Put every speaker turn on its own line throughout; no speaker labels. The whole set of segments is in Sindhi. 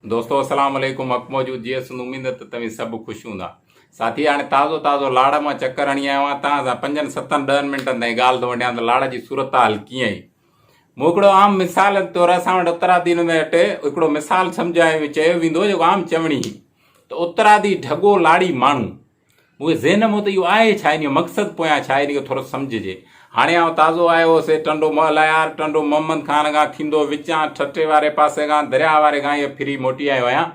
دوستو السلام عليڪم حق موجود جي اسند اميد ته توهين سڀ خوش هوندا ساٿي هاڻي تازو تازو لاڙ مان چڪر هڻي آيو آهيان توهان سان پنجن ستن ڏهن منٽن تائين ڳالهه ٿو وڍيان ته لاڙ جي صورتحال ڪيئن هئي مون هڪڙو عام مثال طور اسان وٽ اترادي نمي وٽ هڪڙو مثال سمجھايو چيو ويندو جيڪو عام چوڻي هئي ته اترادي ڍڳو لاڙي ماڻهو مونکي ذهن مون ته اهو آهي ڇا ان جو مقصد پويان ڇا ان کي ٿورو سمجهجي هاڻي آئون تازو آيو هو سي ٽنڊو مهليار ٽنڊو محمد خان کان ٿيندو وچان ٺٽي واري پاسي کان درياهه واري کان اهي ڦري موٽي آيو آهيان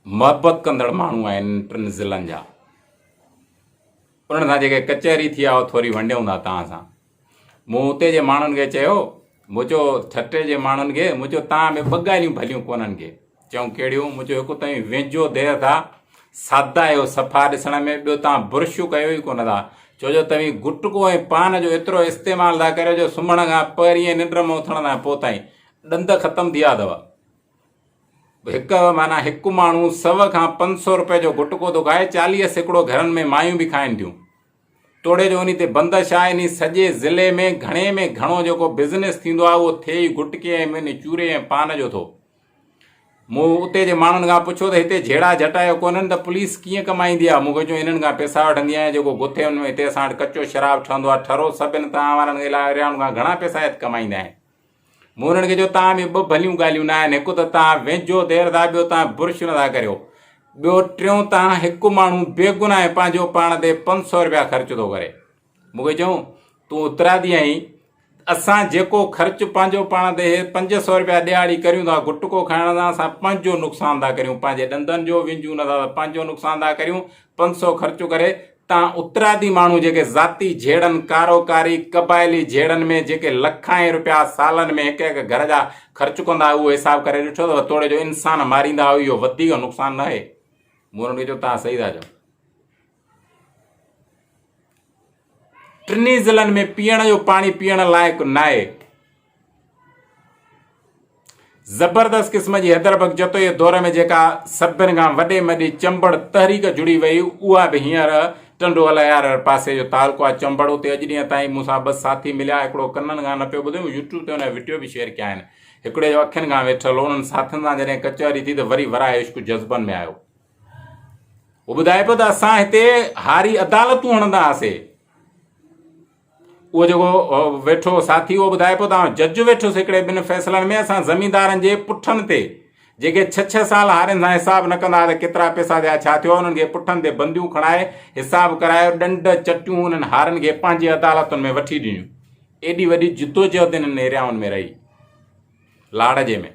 محبت ڪندڙ ماڻهو آهن ٽن ضلعن جا انهن سان جيڪي ڪچهري ٿي آهي ٿوري ونڊيون ٿا توهان سان مون اتي جي ماڻهن کي چيو، مون چيو، ٺٽي جي ماڻهن کي، مون چيو، توهان ۾ ٻه ڳالهيون ڀليون ڪونهن کي. چيائون، ڪهڙيون؟ مون چيو، هڪ توهين ويجهو دير ٿا، سادا آهيو صفا ڏسڻ ۾، ٻيو توهان برش ڪيو ئي ڪونه ٿا، ڇو جو توهين گٽڪو ۽ پان جو ايترو استعمال ٿا ڪريو جو سمهڻ کان پهريئين ننڊ مان اٿڻ کان پوء تائين ڏند ختم ٿي ويا اٿو. هڪ معنيٰ هڪ ماڻهو سؤ کان پنج سؤ روپيه جو گٽڪو ٿو کائي، چاليهه سيڪڙو گهرن ۾ مايون به کائن ٿيون. توڙي جو انهي تي بندش آهي انهي سڄي ضلعي ۾ گهڻي ۾ گهڻو جيڪو بزنس ٿيندو آهي اهو ٿئي ئي گٽڪي ۽ مين چوري ۽ پان جو ٿو. مون اتي جي ماڻهن کان پڇيو ته هتي جهيڙا جهٽا جو ڪونهن ته پوليس ڪيئن ڪمائيندي آهي مون کي چيو انهن کان پيسا وٺندي آهيان جيڪو گٿي ان ۾ هتي اسان وٽ ڪچو شراب ٺهندو آهي ٺرو سڀ ان تان وارن الائي رياهن کان گهڻا پيسا هت ڪمائيندا آهن. مون انهن کي چيو توهان ۾ ٻه ڀليون ڳالهيون نه آهن، هڪ ته توهان ويجهو دير ٿا ٻيو توهان برش نه ٿا ڪريو، ٻيو ٽيون توهان هڪ ماڻهو بيگناهه پنهنجو پاڻ تي پنج سؤ رپيا خرچ ٿو ڪري. مون کي چيائون تون اترادي آهين، اسان جيڪو خرچ پنهنجو پاڻ تي هي پنج سؤ رپيا ڏهاڙي ڪريون ٿا گٽڪو کائڻ سان اسان پنهنجو نقصان ٿا ڪريون، پنهنجي ڏندن جو وينجهون نه ٿا ته پنهنجو نقصان ٿا ڪريون، پنج سؤ خرچ ڪري تان اترادي ماڻهو جيڪي ذاتي جهيڙن، ڪارو ڪاري، قبائلي جهيڙن ۾ جيڪي لکائين رپيا سالن ۾ هڪ هڪ گهر جا خرچ ڪندا اهو حساب ڪري ڏٺو اٿو توڙي جو انسان ماريندا اهو اهو وڌيڪ نقصان نه آهي مون انهن کي چيو تان صحيح ٿا چئو ٽنهي ضلعن ۾ پيئڻ جو پاڻي پيئڻ لائق ناهي زبردست قسم جي حيدر بخش جتوئيء دور ۾ جيڪا سڀن کان وڏي مڏي چمبڙ تحريڪ جڙي وئي، اها به هينئر ٽنڊو الهيار پاسي جو تعلقو آهي. چمبڙ اتي اڄ ڏينهن تائين مون سان ٻه ساٿي مليا، هڪڙو ڪنن کان نه پيو ٻڌي، مون يوٽيوب تي ان جا وڊيو به شيئر ڪيا آهن. هڪڙي جو اکين کان ويٺل هو. انهن ساٿين سان جڏهن ڪچهري ٿي ته وري وراء عشق جذبن ۾ آيو. هو ٻڌائي پيو ته اسان هتي هاري عدالتون هڻندا هئاسي. اهو جيڪو ويٺو ساٿي اهو ٻڌائي پيو ته جج ويٺس هڪڙي ٻن فيصلن ۾ اسان زميندارن جي پٺن تي جيڪي ڇهه ڇهه سال هارين سان حساب نه ڪندا ته ڪيترا پئسا ٿيا ڇا ٿيو انهن کي پٺن تي بنديون کڻائي حساب ڪرايو ڏنڊ چٽيون انهن هارين کي پنهنجي عدالتن ۾ وٺي ڏنيون ايڏي وڏي جدوجهد انهن ايريائن ۾ رهي لاڙجي ۾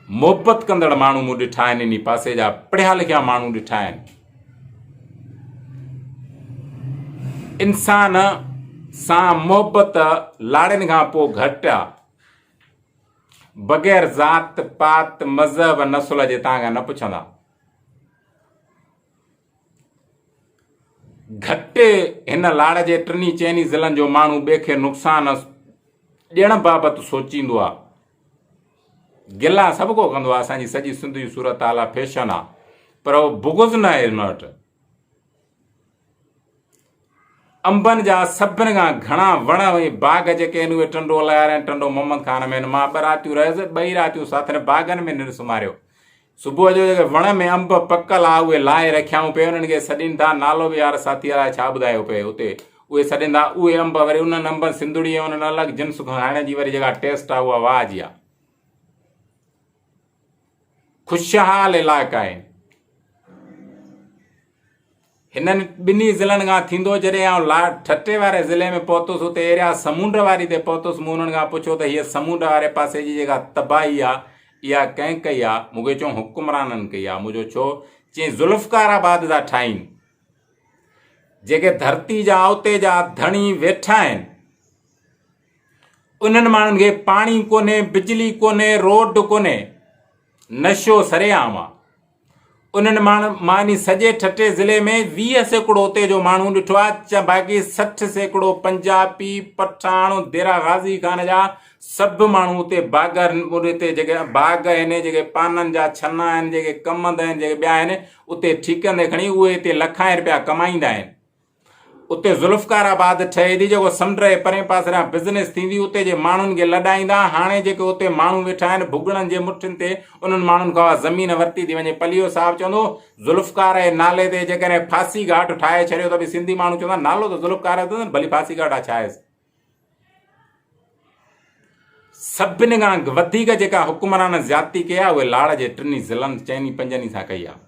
محبت ڪندڙ ماڻهو مون ڏٺا آهن انهي پاسي جا پڙهيا لکيا ماڻهو ڏٺا آهن انسان سان محبت لاڙين کان پوء گهٽ آ بغير ذات پات مذهب نسل جي تان کان نه پڇندا گهٽي هن لاڙ جي ٽنهي چئني ضلعن جو ماڻهو ٻئي کي نقصان ڏيڻ بابت سوچيندو آ گلا سڀ ڪو ڪندو آ اسان جي سڄي سنڌ جي صورتحال آ فيشن آ پر بغض نه آهي هن وٽ انبن جا سڀن کان گهڻا وڻ ۽ باغ جيڪي هن اهي ٽنڊو الايار ۽ ٽنڊو محمد خان ۾ هن مان ٻه راتيون رهيس ٻئي راتيون ساٿرين باغن ۾ ننڊ سمهاريو صبح جو جيڪي وڻ ۾ انب پڪل ها اهي لاهي رکيائون پئي انهن کي سڏين ٿا نالو به يار ساٿيء لاء ڇا ٻڌايو پئي اتي اهي سڏين ٿا اهي انب وري انهن انبن سنڌڙي ۽ انهن الڳ جنس کان هڻي جي وري جيڪا ٽيسٽ آهي اها واهه جي آهي خوشحال علائقا آهن. هنن ٻنهي ضلعن کان ٿيندو جڏهن آئون لا ٺٽي واري ضلعي ۾ پهتس اتي ايريا سمونڊ واري تي پهتس مون انهن کان پڇيو ته هيء سمونڊ واري پاسي جي جيڪا تباهي آ اها ڪنهن ڪئي آ مون کي چون حڪمرانن ڪئي آ مون جو ڇو چين ذوالفقار آباد جا ٺاهين جيڪي ڌرتي جا اتي جا ڌڻي ويٺا آهن انهن ماڻهن کي پاڻي ڪونهي، بجلي ڪونهي، روڊ ڪونهي، نشو سري عام آ. انهن ماڻهن مان يعني سڄي ٺٽي ضلعي ۾ ويهه سيڪڙو اتي جو ماڻهو ڏٺو آ ته باقي سٺ سيڪڙو پنجابي، پٺاڻ، ديرا غازي خان جا سڀ ماڻهو اتي باغ اتي جيڪي باغ آهن جيڪي پانن جا ڇنا آهن جيڪي ڪم هندا آهن جيڪي ٻيا آهن اتي ٺيڪن تي کڻي اهي اتي لکائين رپيا ڪمائيندا آهن. اتي ذوالفقار آباد ٺهي ٿي جيڪو سمنڊ جي پرين پاسريان بزنس ٿيندي اتي جي ماڻهن کي لڏائيندا هاڻي جيڪي اتي ماڻهو ويٺا آهن ڀڳڙن جي مٺين تي انهن ماڻهن کان اها زمين ورتي ٿي وڃي پليو صاحب چوندو ذوالفقار جي نالي تي جيڪڏهن ڦاسي گهاٽ ٺاهي ڇڏيو ته به سنڌي ماڻهو چوندا نالو ته ذوالفقار جو اٿس ڀلي ڦاسي گهاٽ آ ڇا آهي سڀني کان وڌيڪ جيڪا حڪمرانن زيادتي ڪئي آهي اهي لاڙ جي ٽنهي ضلعن چئن ئي پنجن ئي سان ڪئي آهي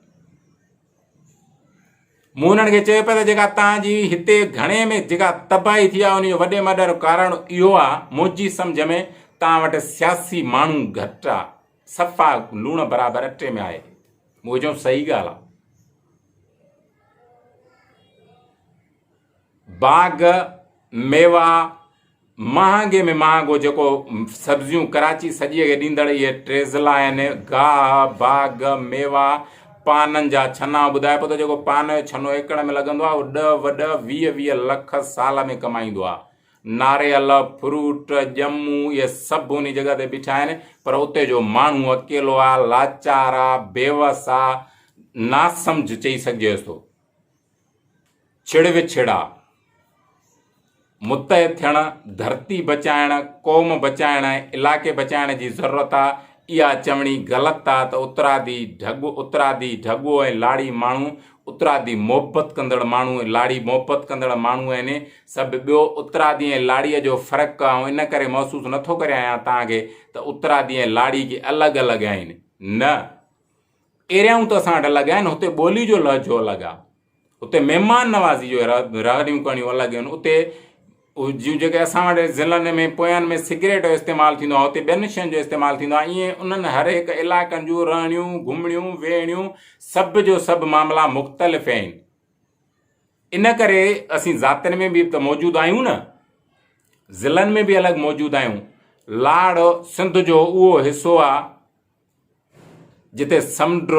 مون انهن کي چيو پيو ته جيڪا تان جي هتي گهڻي ۾ جيڪا تباهي ٿي آهي ان جو وڏي ۾ وڏو ڪارڻ اهو آهي منهنجي سمجهه ۾ تان وٽ سياسي ماڻهو گهٽ آهي صفا لوڻ برابر اٽي ۾ آهي مون کي چيائون صحيح ڳالهه آهي باغ ميوا مهانگي ۾ مهانگو جيڪو سبزيون ڪراچي سڄيء کي ڏيندڙ اهي ٽيزلا آهن، گاهه، باغ، ميوا، پانن جا ڇنا، ٻڌائي پئي ٿو جيڪو پان جو ڇنو ايڪڙ ۾ لڳندو آهي اهو ڏهه وڏهه ويهه ويهه لک سال ۾ ڪمائيندو آهي. ناريل، فروٽ، ڄمون اهي سڀ انهي جڳهه تي بيٺا آهن پر اتي جو ماڻهو اڪيلو آهي، لاچار آهي، بيوس آهي، ناسمجهه چئي سگهجيس ٿو. ڇڙ وڇڙا، متحد ٿيڻ، ڌرتي بچائڻ، قوم بچائڻ ۽ علائقي بچائڻ جي ضرورت آ، اها چوڻي غلط آ ته اترادي ڍڳو، اترادي ڍڳو ۽ لاڙي ماڻهو، اترادي محبت ڪندڙ ماڻهو ۽ لاڙي محبت ڪندڙ ماڻهو آهن ۽ سڀ ٻيو، اترادي ۽ لاڙي جو فرق آئون ان ڪري محسوس نٿو ڪريان يا توهان کي ته اترادي ۽ لاڙي ڪي الڳ الڳ آهن، نه! ايريائون ته اسان وٽ الڳ آهن، هتي ٻولي جو لهجو الڳ آهي، هتي مهمان نوازي جو رهڻيون ڪهڻيون الڳ آهن، اتي جون جيڪي اسان وٽ ضلعن ۾ پويان ۾ سگريٽ جو استعمال ٿيندو آهي، اتي ٻين شين جو استعمال ٿيندو آهي، ائين انهن هر هڪ علائقن جون رهڻيون، گهمڻيون، ويهڻيون سڀ جو سڀ معاملا مختلف آهن. ان ڪري اسين ذاتين ۾ به ته موجود آهيون نه، ضلعن ۾ به الڳ موجود آهيون، لاڙ سنڌ جو اهو حصو آهي، جتي سمنڊ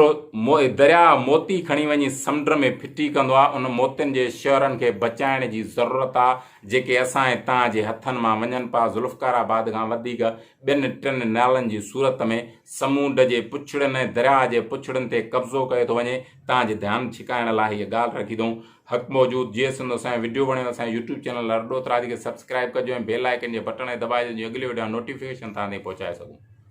درياء موتي کڻي وڃي سمنڊ ۾ ڦٽي ڪندو آهي، ان موتين جي شهرن کي بچائڻ جي ضرورت آهي، جيڪي اسان ۽ توهان جي هٿن مان وڃن پيا، ذوالفقار آباد کان وڌيڪ ٻن ٽن نالن جي صورت ۾ سمونڊ جي پڇڙين ۽ درياء جي پڇڙين تي قبضو ڪيو ٿو وڃي، توهان جي ڌيان ڇڪائڻ لاء هيء ڳالهه رکي ٿئون. حق موجود جيئي سنڌ اسان جي وڊيو وڻيو ته اسان جي يوٽيوب چينل لهر ڏوت راڄ کي سبسڪرائيب ڪجو ۽ بيل آئيڪن جي بٽڻ کي دٻائجو جيئن اڳلي وڊيو جا نوٽيفڪيشن توهان تائين پهچائي سگهون.